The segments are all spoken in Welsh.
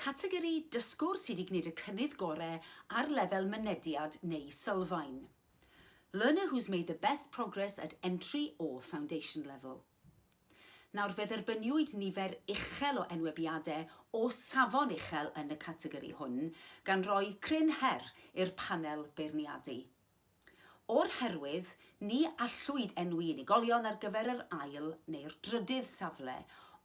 Categori dysgwr sydd wedi gwneud y cynnydd gorau ar lefel mynediad neu sylfaen. Learner who's made the best progress at entry or foundation level. Nawr fe dderbyniwyd nifer uchel o enwebiadau o safon uchel yn y categori hwn, gan roi cryn her i'r panel beirniadu. O'r herwydd, ni allwyd enwi unigolion ar gyfer yr ail neu'r drydydd safle,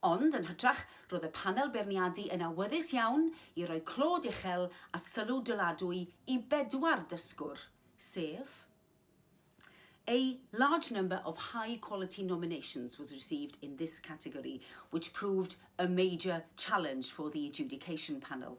ond, yn hytrach, roedd y panel beirniadu yn awyddus iawn i roi clod uchel a sylw dyladwy i bedwar dysgwr, sef A large number of high quality nominations was received in this category, which proved a major challenge for the adjudication panel.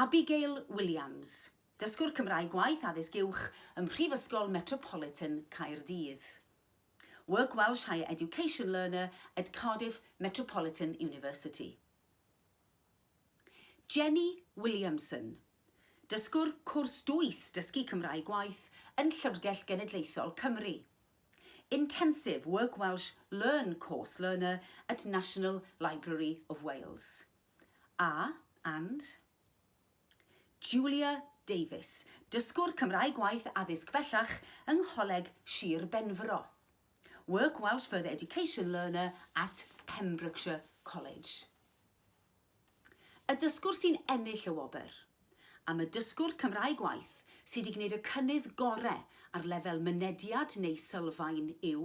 Abigail Williams, dysgwr Cymraeg gwaith addysg uwch ym Mhrifysgol Metropolitan Caerdydd. Work Welsh Higher Education Learner at Cardiff Metropolitan University. Jenny Williamson, dysgwr cwrs dwys dysgu Cymraeg gwaith yn Llyfrgell Genedlaethol Cymru. Intensive Work Welsh Learn Course Learner at National Library of Wales. A, and. Julia Davies, dysgwr Cymraeg Gwaith Addysg Bellach yng Ngholeg Shir Benfro. Work Welsh Further Education Learner at Pembrokeshire College. Y dysgwr sy'n ennill y wobr. Am y dysgwr Cymraeg Gwaith sydd wedi gwneud y cynnydd gorau ar lefel mynediad neu sylfaen yw.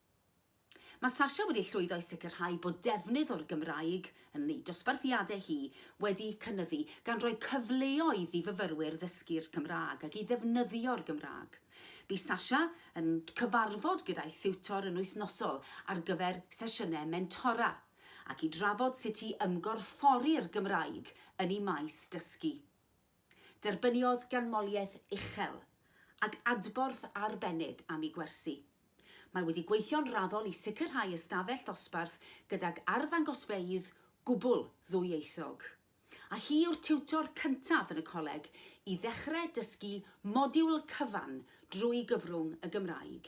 Mae Sasha wedi llwyddo i sicrhau bod defnydd o'r Gymraeg yn ei dosbarthiadau hi wedi cynyddu, gan roi cyfleoedd i fyfyrwyr ddysgu'r Cymraeg ac i ddefnyddio'r Gymraeg. Bu Sasha yn cyfarfod gyda'i thiwtor yn wythnosol ar gyfer sesiynau mentora, ac i drafod sut i ymgorffori'r Gymraeg yn ei maes dysgu. Derbyniodd ganmoliaeth uchel ac adborth arbennig am ei gwersi. Mae wedi gweithio'n raddol i sicrhau ystafell ddosbarth gydag arddangosfeydd gwbl ddwyieithog. A hi yw'r tiwtor cyntaf yn y coleg i ddechrau dysgu modiwl cyfan drwy gyfrwng y Gymraeg.